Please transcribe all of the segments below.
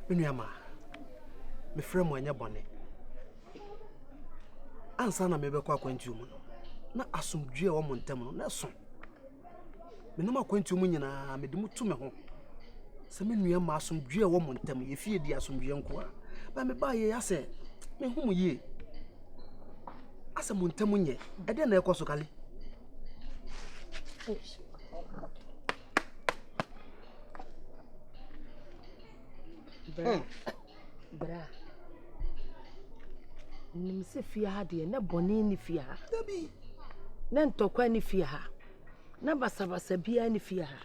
me nuamaa mefrɛ mu ɛnyɛ bɔne ansa na mebɛkɔ akwantuo mu no na asomdwoe a wɔ mo ntam no na ɛso menam akwantuo mu nyinaa mede mu tu me ho sɛ me nuamaa asomdwoe a wɔ mo ntam yɛfie di asomdwoe nko a na mebaayɛ yɛ asɛ mehu mu yie Asɛ mo ntam nyɛ, ɛdɛn na ɛkɔ so kale? Bra. Hmm. Bra. Nim sɛ fie ha deɛ na bɔne ne fie ha. Dabi. Na ntɔkwa ne fie ha. Na basabasa biara ne fie ha.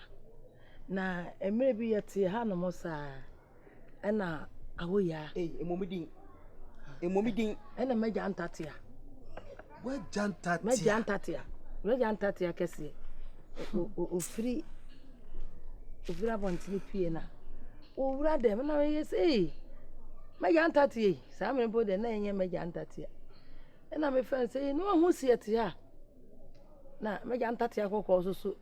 Na mmerɛ bi yɛte ha nom saa. Ɛna awo ya. Ei, emu mi din. Emu mi din. Ɛna mɛgya ntatea. Wɛgya ntatea. Mɛgya ntatea. Wɛgya ntatea kɛseɛ. Ofiri ofiri abɔntene pie na owura dɛm na ɔyɛ sɛ ei mɛgya ntatea yi saa mmerɛ mpo deɛ na ɛnyɛ mɛgya ntatea ɛna mefrɛ no sɛ ei na wahu seɛ te a na mɛgya ntatea kɔkɔɔ so so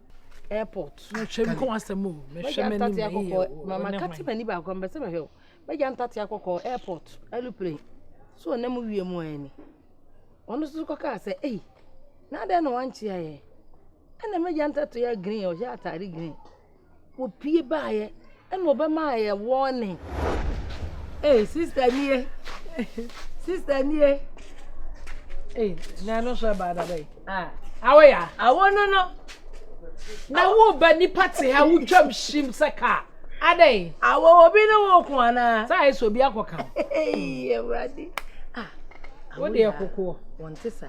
airport mɛtwam kɔ asɛm o mɛhwɛ m'ani mɛyɛ o mama kate m'ani baako mbɛ sɛ mɛhwɛ o mɛgya ntatea kɔkɔɔ airport aeroplane so ɔnam mu wie mu ani ɔno nso kɔkaa sɛ ei na adɛn na wankye ayɛ ɛna mɛgya ntatea green ɔhyɛ ataade green Wɔpue baeɛ ɛna wɔbɛmaa yɛn warning. Ei sister nie, sister nie. Ei, na ɛno nso ɛbaa da bɛyi. Ah, awo ya. Awo no no. Na wo ba nipa te ha wotwam hyim sɛ kaa. Adɛn? Awo obi ne wo ko anaa? Saa ayɛ sɛ obi akɔka wo. Ei, awurade. Ah, wo deɛ kokoɔ. Wɔnte saa.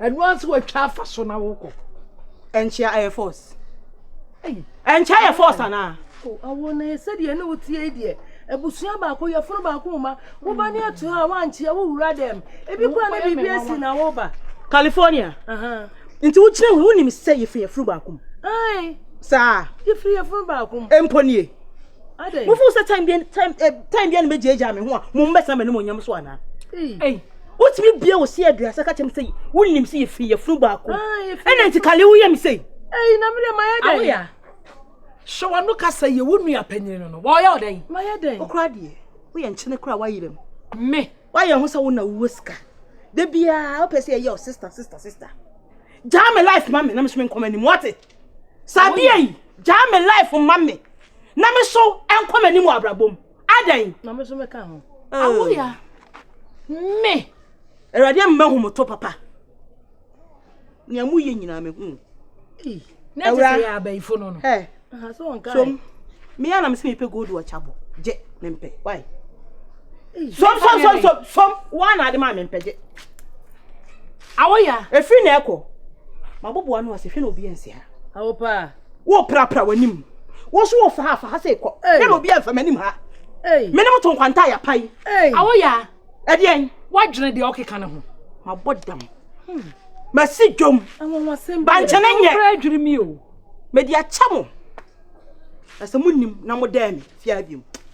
Ɛno ara nso watwa afa so na wokɔ. Ɛnkyɛ ayɛ force. Ɛnkyɛ ayɛ force anaa? Awo na yɛ sɛdeɛ ne wotie yi deɛ abusua baako yɛfono baako ma woba ne ato hɔ a woankyea wowura dɛm ebi kora ne biribi asi na woba California nti wokyerɛ hu wonim sɛ yɛfiri yɛfono baako mu saa yɛfiri yɛfono baako mu mpo nie mofo sɛ time bia ne bɛgyaagyaa me ho a mo mbɛsena m'anim onyam so anaa wotumi bia wo se aduasa ka kyɛm sɛ wonim sɛ yɛfiri yɛfunu baako ɛna nti kale woyɛ me sɛi ɛyi na mede mayɛ dɛn awoya hyɛ wano ka sɛ yɛ wo nua panyini no no wɔyɛ wo dɛn mayɛ dɛn wokora deɛ woyɛ nkyene kora woayerɛ mu me woayɛ ho sɛ wo na wowɔ sika da biaa wopɛ sɛ yɛyɛ wo sister sister sister gyaa me life ma me na mesome nkɔma anim wate saa bia yi gyaa me life ma me na me so nkɔma anim wɔ abrabɔ mu adɛn na me so mɛka ho awoya me awurade amma hu motɔ papa nea moyɛ nyinaa mehu na ɛte sɛ yɛ abayifo no no so meyɛ anam sɛ mepɛ gold ɔkyabɔ gye mempɛ why som som som som som woa na ade ma mempɛ gye awoya ɛfiri na ɛkɔ maboboa no ase hwɛ na obi ansi ha awo paa Worepirapira w'anim. Wo nso wofa ha, fa ha sɛ kɔ. Hey. Yɛn obi amfa m'anim ha. Hey. Me ne mo to nkwanta a yɛapae. Hey. Awoya. Ɛdeɛn? Woadwene deɛ ɔkeka no ho. Mabɔ dam. Hmm. Masi dwom. Bankyɛne nyɛ. Wokura adwiri mi o. Mede akyɛ mo. Na sɛ monim na modɛɛ me, fiaa biom.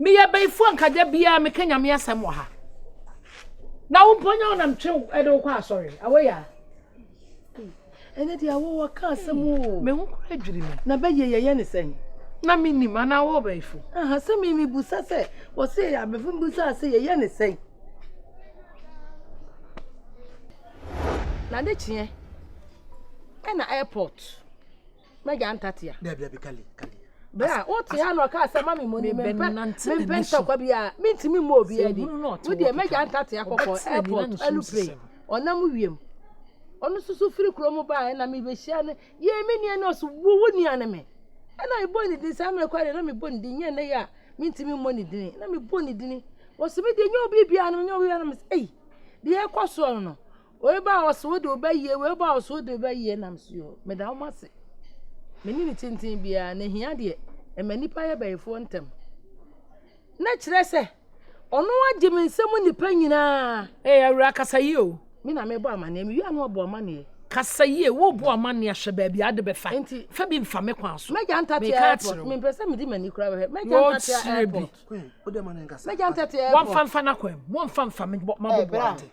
Meyɛ bayifoɔ anka da biara meka nyame asɛm wɔ ha na wo mpo nyɛ wo nam twe ɛde wo kɔ asɔre awɔ yɛ ɛnyɛ deɛ awɔ wɔ ka asɛm o hmm. me ho kora adwiri me na bɛyɛ yɛyɛ ne sɛn na menim anaa wɔ bayifo aha sɛ me mebusa sɛ wɔse abɛfo mbusa sɛ yɛyɛ ne sɛn na de kyeɛ ɛna airport Mɛgya ntate a. Dabi dabi kali kali. Bere a wote ha na ɔkaa sɛ ma me mmɔ ni mempɛ mempɛ ntɔkwa bi a mentumi mmɔ obiara di. Wodeɛ mɛgya ntate akɔkɔ airport alupre ɔnam wiem. Ɔno susu firi kuro mu baa ɛna mebɛhyia no yɛɛ me nua no ɔso wo wo nua no me. Ɛna mebɔ ne din saa mmerɛ kora deɛ na mebɔ ne din nyɛ nnɛ yi a mentumi mmɔ ne dini na mebɔ ne dini. Wɔso me deɛ nyɛ obi biara no menyɛ obi biara no mesɛ ei deɛ ɛkɔ soɔ no no Wei ba a ɔse wode wo bɛyie, wei ba a ɔse wode wo bɛyie nam so yi o, meda wɔn ase. Me ne ne tenten biara, na ehia deɛ, ɛma nnipa yɛ bɛyifoɔ ntɛm. Na kyerɛ sɛ, ɔno agye me nsam nnipa nyinaa. Ee, awura kasa yie o. Me na mebɔ amaneɛ, me wie a na wabɔ amaneɛ. Kasa yie, wobɔ amaneɛ a hwɛ baabi a wode bɛfa. Nti, fa bi mfa me kwan so. Mɛgya ntate airport, mempɛ sɛ mede m'ani koraa bɛhwɛ. Mɛgya ntate airport. Mɛgya ntate airport. Wɔmfa mfa n'akwan mu, wɔmfa mfa me bɔ, mabɔ boa ate.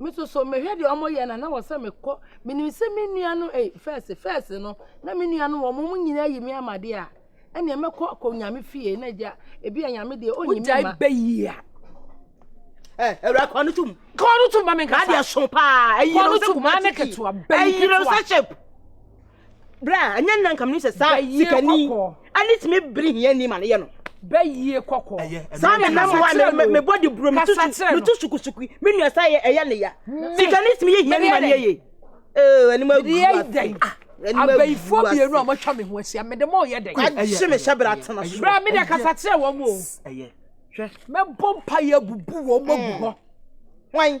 Me nso so mehwɛ deɛ wɔn yɛ na na wɔ sɛ mekɔ menim sɛ me nua no eh fɛs fɛs no na me nua no wɔn mo nyinaa yi me amadeɛ a ɛnna mɛkɔ akɔ nyame fie na gya ebi a nyame deɛ ɔnyi me ma. bɛyi a ɛ ɛwura kɔn no tum. kɔn no tum ma mi nkasa. adeɛ so paa ɛyi na ɔsɛ kumati ti ɛyi na ɔsɛ shape. Bra, ɛnyɛ nna nka menim sɛ saa sikani ɛne tumi bere hiani ma no yɛ no. Bɛyie kɔkɔ. Saa na nam hɔ a mebɔ de buro metu sukusuku me nua saa ɛyɛ ne ya. Sikani tumi yɛ hiani ma no yɛ yie. Ee, anim agu ase. Abayifoɔ mmienu a wɔatwa me ho ahyia mede mo yɛ dɛ. Agye me hyɛ bra tena so. Bra me de kasa kyerɛ wɔn o. Mɛbɔ mpa yɛ abubu wɔn agu hɔ. Why?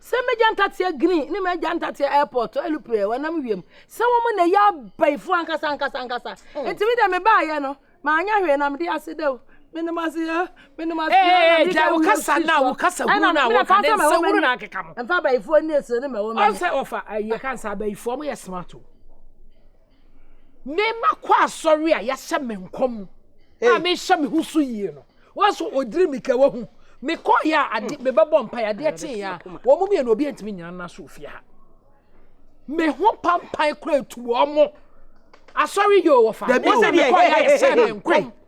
Sɛ m'agya ntateɛ green ne m'agya ntateɛ airport alupre a wɔnam wiem sɛ wɔn na ɛyɛ abayifoɔ ankasa ankasa ankasa hmm. nti mi deɛ me baayɛ no maanyɛ hwee na mede ase dɛw menom ase yɛ menom ase yɛ eh, ɛna gya wokasa na wokasa gu na wɔka ne nsɛ wuru na akeka mo mfa abayifoɔ ni esire ne mɛwɔ mɛ ɔsɛ ɔfa ayɛ kansa abayifoɔ mo yɛ smart o. Me mma kɔ asɔre a yɛahyɛ me nkɔm mu a mehyɛ me ho so yie no. Wɔso ɔdiri me ka wahu. Mekɔ yɛ a ade mebɛbɔ mpa yɛ adeɛ kye yɛ a wɔn mu mmienu obi ntumi nyina nna so ofie ha. Me ho pampan kura etu wɔn mo. Asɔre yɛ ɔwɔ fa. Wɔsɛ mekɔ yɛ a yɛhyɛ me nkɔm.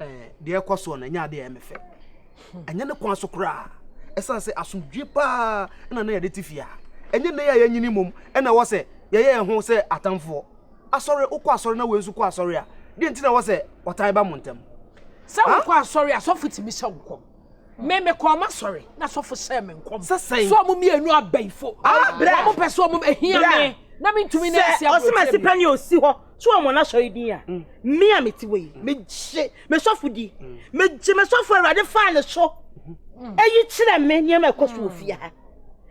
eh, deɛ ɛkɔ soɔ no ɛnyɛ adeɛ ɛyɛ me fɛ ɛnyɛ ne kwan so koraa ɛsiane sɛ asomdwe paa na na yɛde te fie a ɛnyɛ nnɛ yɛ a yɛnyini mmom ɛna ɛwɔ sɛ yɛyɛ yɛn ho sɛ atamfoɔ asɔre wokɔ asɔre na wei nso kɔ asɔre a deɛ nti na ɛwɔ sɛ ɔtan ba mo ntam sɛ wokɔ asɔre asɔfo tumi hyɛ wo kɔm Me mekɔɔ m'asɔre na sɔfo hyɛɛ me nkɔm sɛ sɛ wɔn mmienu abayifo wɔn pɛ sɛ wɔn ahia me na mentumi ne ase abotire ɔsoma si pɛ ne ɔsi hɔ so wɔn wɔn asɔre din a mm. me a mete wɔ yi mm. megye me sɔfo di mm. megye me sɔfo awurade faa ne so eyi kyerɛ me nneɛma ɛkɔ so wɔ fie ha